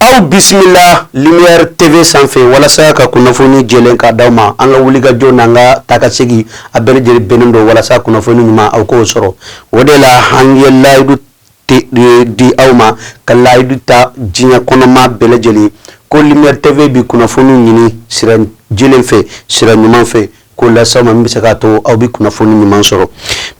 Aw bisimila lumière TV sanfɛ walasa ka kunnafoni jɛlen ka d'aw ma an ka wulikajɔ n'an ka taakasegin a bɛɛ lajɛlen bɛnnen don walasa kunnafoni ɲuman aw k'o sɔrɔ o de la an ye layidu di aw ma ka layidu ta diɲɛ kɔnɔmaa bɛɛ lajɛlen ko lumière TV bɛ kunnafoni ɲini sira jɛlen fɛ sira ɲuman fɛ k'o lase aw ma min bɛ se k'a to aw bɛ kunnafoni ɲuman sɔrɔ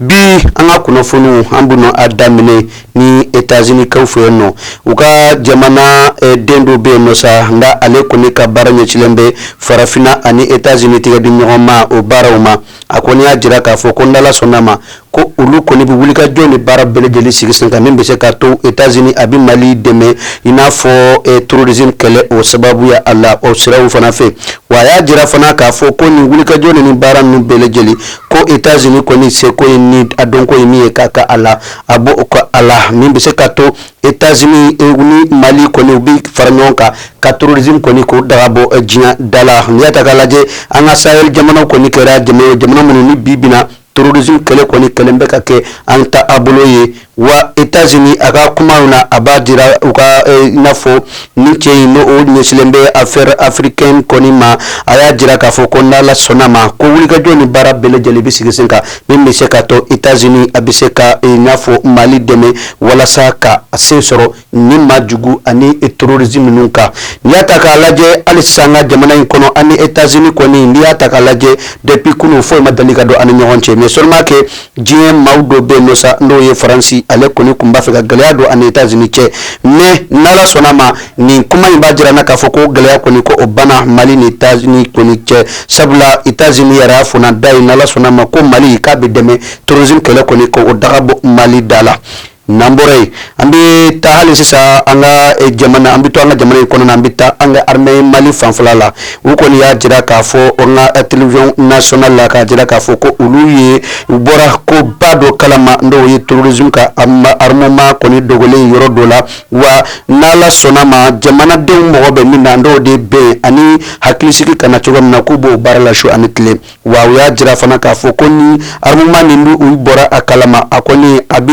bi an ka kunnafoniw an bɛ a daminɛ ni etazinikaw fɛ yen nɔ u ka jamana eh, den dɔ bɛ yen nɔ sa nka ale kɔni ka baara ɲɛsilen bɛ farafinna ani etazini tɛgɛ di ɲɔgɔn ma o baaraw ma a kɔni y'a jira k'a fɔ ko n'Ala sɔnna ma ko olu kɔni bɛ wulikajɔ ni baara bɛɛ lajɛlen sigi sen kan min bɛ se ka to etazini a bɛ mali dɛmɛ i n'a fɔ eh, terrorisme kɛlɛ o sababuya a la o siraw fana fɛ wa a y'a jira fana k'a fɔ ko nin wulikajɔ ni nin baara ninnu bɛɛ lajɛlen ko etazini kɔni seko ye ni a dɔnko ye min ye k'a kɛ a la a b'o kɛ a la min bɛ se ka to etazini eh, ni mali kɔni u bɛ fara ɲɔgɔn kan ka terrorisme kɔni k'o daga bɔ eh, diɲɛ da la n'i y'a ta k'a lajɛ an ka sahel jamanaw kɔni kɛra jamana jamana minnu ni bi bi in na terrorisme kɛlɛ kɔni kɛlen bɛ ka kɛ an taabolo ye wa Etats-Unis a ka kumaw na a b'a jira u ka eh, i n'a fɔ nin cɛ in ni o ɲɛsilen bɛ affaire africaine kɔni ma a y'a jira k'a fɔ ko n'Ala sɔnna ma ko wulikajɔ ni baara bɛɛ lajɛlen bɛ sigi sen kan min bɛ se ka to Etats-Unis a bɛ se ka eh, i n'a fɔ Mali dɛmɛ walasa ka se sɔrɔ nin maajugu ani terroriste ninnu kan n'i y'a ta k'a lajɛ hali sisan an ka jamana in kɔnɔ ani etazini kɔni n'i y'a ta k'a lajɛ dɛgun foyi ma deli ka don an ni ɲɔgɔn cɛ mɛ soma kɛ diɲɛ maaw dɔ bɛ nɔ sa n'o ye faransi ale kɔni tun b'a fɛ ka gɛlɛya don an ni etazini cɛ mɛ ni ala sɔnna ma nin kuma in b'a jira an na k'a fɔ ko gɛlɛya kɔni ko o banna mali ni etazini kɔni cɛ sabula etazini yɛrɛ fɔta ye ni ala sɔnna ma ko mali k'a bɛ dɛmɛ terrorisme kɛlɛ kɔni k'o daga bɔ mali da la N'an bɔra yen an bɛ taa hali sisan an ka eh, jamana an bɛ to an ka jamana in kɔnɔna an bɛ taa an ka armée Mali fanfɛla la u kɔni y'a jira k'a fɔ an ka eh, télévision nationale la k'a jira k'a fɔ ko olu ye u bɔra koba dɔ kalama n'o ye terrorisme ka armement kɔni dogolen yɔrɔ dɔ la wa n'Ala sɔnna ma jamanadenw mago bɛ min na n'o de ye bɛn ani hakilisigi ka na cogo min na k'u b'o baara la su ani tile Wa u y'a jira fana k'a fɔ ko nin armement nin bɛ u bɔra a kalama a kɔni a bɛ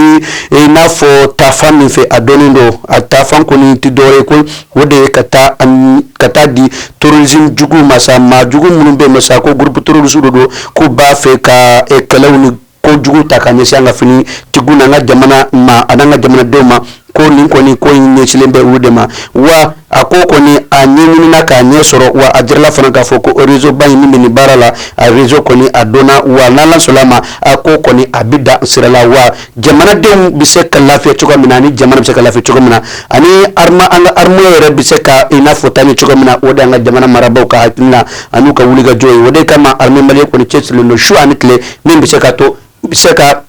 i n'a fɔ taa fan min fɛ a dɔnnen don a taafan kɔni tɛ dɔwɛrɛ ye ko o de ye k'a ta ka taa a di terrorisme jugu ma sa maajugu minnu bɛ nɔ sa ko groupe terroriste dɔ don k'u b'a fɛ ka kɛlɛ ko jugu ta ka ɲɛsin an ka finitigiw n'an ka jamana ma an'an ka jamanadenw ma ko nin kɔni ko in ɲɛsilen bɛ olu de ma wa a ko kɔni a ɲɛɲinina k'a ɲɛ sɔrɔ wa a jirala fana k'a fɔ ko rezoba in min bɛ nin baara la a rezo kɔni a dɔnna wa n'ala sɔnna a ma a ko kɔni a bɛ da sira la wa jamanadenw bɛ se ka lafiya cogo min na ani jamana bɛ se ka lafiya cogo min na ani armée an ka armée yɛrɛ bɛ se ka i n'a fɔ taa ɲɛ cogo min na o de an ka jamana marabaaw ka hakilina an'u ka wulikajɔ ye o de kama armée malienne kɔni cɛsirilen don su ani tile min bɛ se ka to bɛ se ka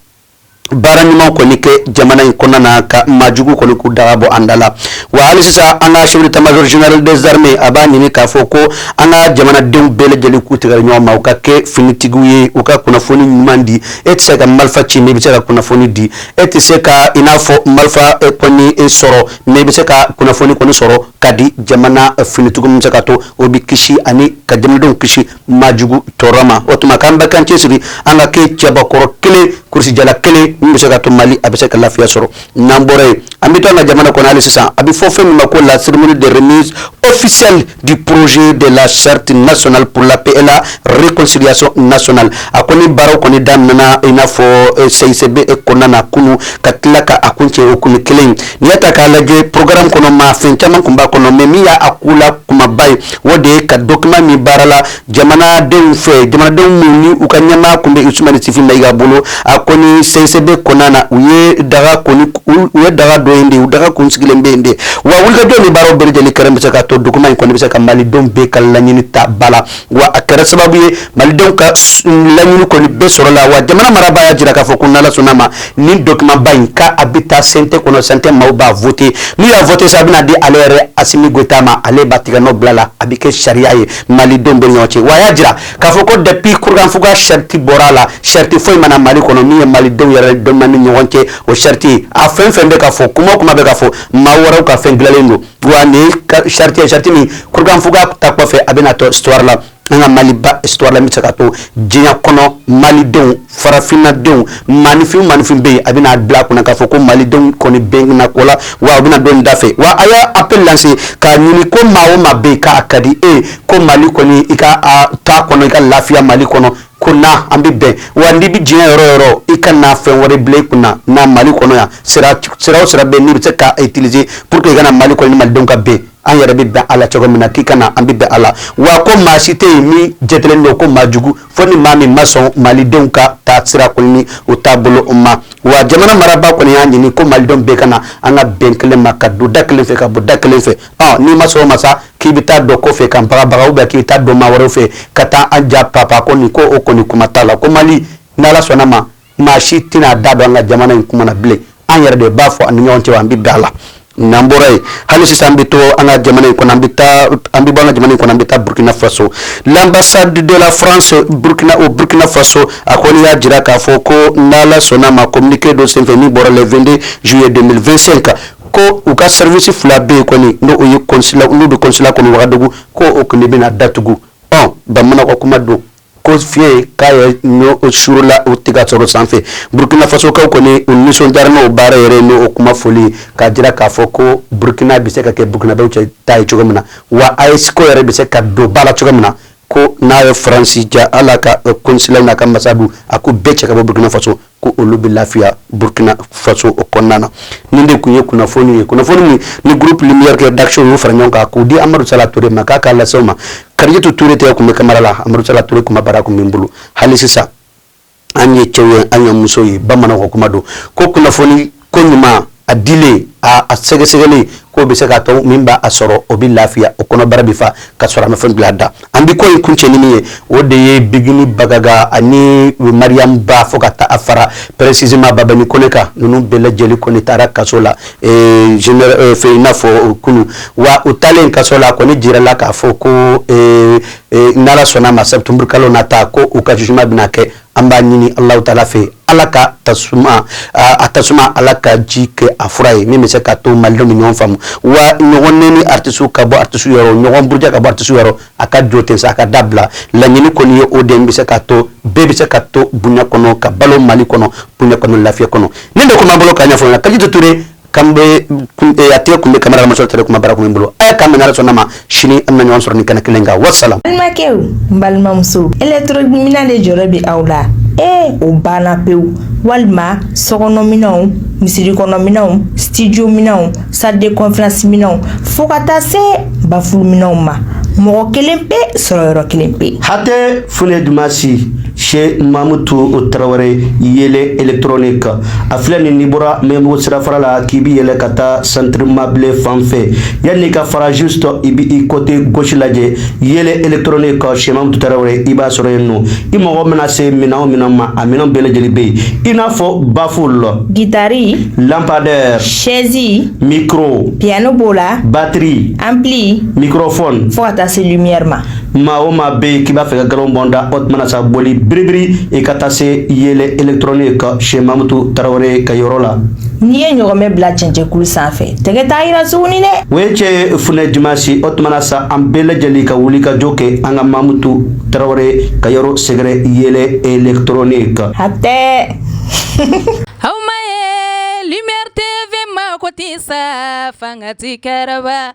baara ɲuman kɔni kɛ jamana in kɔnɔna na ka maajugu kɔni k'u daga bɔ an da la wa hali sisan an ka chef d'état-major des armées a b'a ɲini k'a fɔ ko an ka jamanadenw bɛɛ lajɛlen k'u tigɛ ɲɔgɔn ma u ka kɛ finitigiw ye u ka kunnafoni ɲuman di e tɛ se ka marifa ci i bɛ se ka kunnafoni di e tɛ se ka i n'a fɔ marifa e e sɔrɔ mais i bɛ se ka kunnafoni kɔni sɔrɔ k'a di jamana finitigiw bɛ se ka to u bɛ kisi ani ka jamanadenw kisi maajugu tɔɔrɔ ma o tuma k'an bɛɛ k'an cɛ siri an ka kɛ cɛbakɔrɔ kelen kurusijala kelen min bɛ se ka to mali a bɛ se ka lafiya sɔrɔ n'an bɔra yen an bɛ to an ka jamana kɔnɔ hali sisan a bɛ fɔ fɛn min ma ko la cérémonie de remise officielle du projet de la charte nationale pour la paix et la réconciliation nationale a kɔni baaraw kɔni daminɛna i n'a fɔ CICB kɔnɔna na kunun ka tila k'a kuncɛ o kunun kelen N'i y'a ta k'a lajɛ programme kɔnɔna fɛn caman tun b'a kɔnɔ mais min y'a kunna kumaba ye o de ye ka dɔkiman min baarala jamanadenw fɛ jamanadenw minnu ni u ka ɲɛmaa tun bɛ Ousmane Issoufi Maïga bolo a kɔni CICB kɔnɔna na u ye daga u ye daga dɔ in de u daga tun sigilen bɛ yen de wa wulikajɔ ni baaraw bɛɛ lajɛlen kɛra min bɛ se ka to dɔkiman in kɔni bɛ se ka malidenw bɛɛ ka laɲini ta ba la wa a kɛra sababu ye malidenw ka laɲini kɔni bɛ sɔrɔ a la wa jamana marabaa y'a jira k'a fɔ ko n'ala sɔnna a ma nin dɔkimanba in k'a a bɛ taa sente kɔnɔ sante maaw b'a vote n'u y'a vote sa a bɛna di ale yɛrɛ Assimi Goïta ma ale b'a tigɛnɔ bila a la a bɛ kɛ sariya ye malidenw bɛɛ ni ɲɔgɔn cɛ wa a y'a jira k'a fɔ ko depuis kurukanfuga sariti bɔra a la sariti foyi ma na mali kɔnɔ min ye malidenw yɛrɛ dama ni ɲɔgɔn cɛ o sariti a fɛn o fɛn bɛ ka fɔ kuma o kuma bɛ ka fɔ maa wɛrɛw ka fɛn dilanlen don wa nin ye sariti ye sariti min kurukanfuga ta kɔfɛ a bɛna to histoire la an ka maliba histoire la min bɛ se ka to diɲɛ kɔnɔ malidenw farafinnadenw maanifin maanifin bɛ yen a bɛna bila u kunna k'a fɔ ko malidenw kɔni bɛnna ko la wa u bɛna don nin da fɛ wa a y'a appel lance k'a ɲini ko maa o maa bɛ yen k'a ka di e ye ko mali kɔni i ka taa kɔnɔ i ka lafiya mali kɔnɔ ko na an bɛ bɛn wa n'i bɛ diɲɛ yɔrɔ o yɔrɔ i kana fɛn wɛrɛ bila i kun na na mali kɔnɔ yan sira o sira bɛ yen i bɛ se k'a utiliser pour que i ka na mali kɔnɔ ni malidenw ka bɛn an yɛrɛ bɛ bɛn a la cogo min na k'i ka na an bɛ bɛn a la wa ko maa si tɛ yen min jatelen don ko maa jugu fo ni maa min ma sɔn malidenw ka taasira kɔni ni u taabolo ma wa jamana marabaa kɔni y'a ɲini ko malidenw bɛɛ ka na an ka bɛn kelen ma ka don da kelen fɛ ka bɔ da kelen fɛ ɔ n'i ma sɔn o ma sa k'i bɛ taa dɔ kɔfɛ ka n bagabaga ou bien k'i bɛ taa don maa wɛrɛw fɛ ka taa an ja papa ko nin ko o kɔni kuma t'a la ko Mali n'Ala sɔnna ma maa si tɛna a da don an ka jamana in kuma na bilen an yɛrɛ de b'a fɔ an ni ɲɔgɔn cɛ wa an bɛ bɛn a la n'an bɔra yen hali sisan an bɛ to an ka jamana in kɔnɔ an bɛ taa an bɛ bɔ an ka jamana in kɔnɔ an bɛ taa Burkina Faso l'ambassade de la France Burkina au Burkina Faso a kɔni y'a jira k'a fɔ ko n'Ala sɔnna ma communiqué dɔ senfɛ min bɔra le 22 juillet 2025 ko u ka sɛriwisi fila bɛ yen kɔni n u ye konsila olu bɛ konsila kɔnɔ wagadugu ko o kɔni bɛna datugu ɔ bamanan ka kuma don ko fiɲɛyɛn k'a ye ɲɔ suurla u tigɛ sɔrɔ sanfɛ burukinafasokaw kɔni u nisɔndiyara n'o baara yɛrɛ n'o kuma fɔli k'a jira k'a fɔ ko burukina bɛ se ka kɛ burukinadenw cɛ ta ye cogo min na wa AES ko yɛrɛ bɛ se ka don ba la cogo min na ko n'a ye faransi diya ala ka eh, konsila n'a ka ambassade a k'u bɛɛ cɛ ka bɔ burkina faso ko olu bɛ lafiya burkina faso o kɔnɔna na nin de tun ye kunnafoni ye kunnafoni min ni groupe lumière kɛ d'action y'u fara ɲɔgɔn kan k'u di amadu sala ture ma k'a k'a lase aw ma karijatu ture de tun bɛ kamera la amadu sala ture kumabara tun bɛ n bolo hali sisan an ye cɛw ye an ye muso ye bamananw kuma don ko kunnafoni ko ɲuman a dilen a sɛgɛsɛgɛli k'o bɛ se k'a to min b'a sɔrɔ o bɛ lafiya o kɔnɔbara bɛ fa ka sɔrɔ an bɛ fɛn bila da an bɛ ko ye kun tiɲɛ ɲinini ye o de ye bigini bagaga ani mariyamu ba fo ka taa a fara précisément babani kɔnɛ kan ninnu bɛɛ lajɛlen kɔni taara kaso la fɛ i n'a fɔ kunun wa u taalen kaso la kɔni jirala k'a fɔ ko ee n'ala sɔnna ma sɛtanburu kalo nata ko u ka jugement bɛna kɛ an b'a ɲini ala tala fɛ ala ka tasuma a tasuma ala ka ji kɛ a fura ye min bɛ se k'a to malidenw ni ɲɔgɔn faamu wa ɲɔgɔn neni aratisi ka bɔ aratisi yɔrɔ ɲɔgɔn buruja ka bɔ aratisi yɔrɔ a ka jo ten sa a ka dabila laɲini kɔni ye o de min bɛ se k'a to bɛɛ bɛ se ka to bonya kɔnɔ ka balo mali kɔnɔ bonya kɔnɔ lafiya kɔnɔ nin de tun b'an bolo ka ɲɛfɔ karijatu ture kan bɛ a tɛ tun bɛ kamera muso tɛ kumabara kun bolo aw ka minɛ sɔnna ma sini an ɲɔgɔn sɔrɔ ni kɛnɛ kelen kan walasasa balimakɛ balimamuso électro minɛn de jɔrɔ bɛ aw la ee o banna pewu walima sokɔnɔminɛnw misiri kɔnɔminɛnw studio minɛnw salle de conférence minɛnw fo ka taa se baffle minɛnw ma mɔgɔ kelen pe sɔrɔ yɔrɔ kelen pe hatɛ foli duman si Chez mamutu tarawele yɛlɛ électronique a filɛ nin n'i bɔra mɛbɔ sirafara la k'i bɛ yɛlɛ ka taa centre mabilé fan fɛ yanni i ka feu rouge sɔrɔ i bɛ i côté gauche lajɛ yɛlɛ électronique chez ma tarawele i b'a sɔrɔ yen nɔ i mako mana se minɛn min ma a minɛn bɛɛ lajɛlen bɛ yen i n'a fɔ baffle gitari lampadaire sɛzi micro piyano b'o la batiri ampli microphone fo ka taa se lumière ma maa o maa bɛ yen k'i b'a fɛ ka galo bɔn da o tuma na sa boli biribiri i ka taa se yeelen électronique chez mamutu tarawele ka yɔrɔ la n'i ye ɲɔgɔmɛ bila cɛncɛnkulu sanfɛ tɛgɛ t'a yira suguni dɛ o ye cɛ ye funɛ dimasi o tuma na sa an bɛɛ lajɛlen ka wuli ka jo kɛ an ka mamutu tarawele ka yɔrɔ sɛgɛrɛ yeelen électronique hatɛ aw ma ye lumière tv mako tɛ sa fanga tɛ kɛrɛba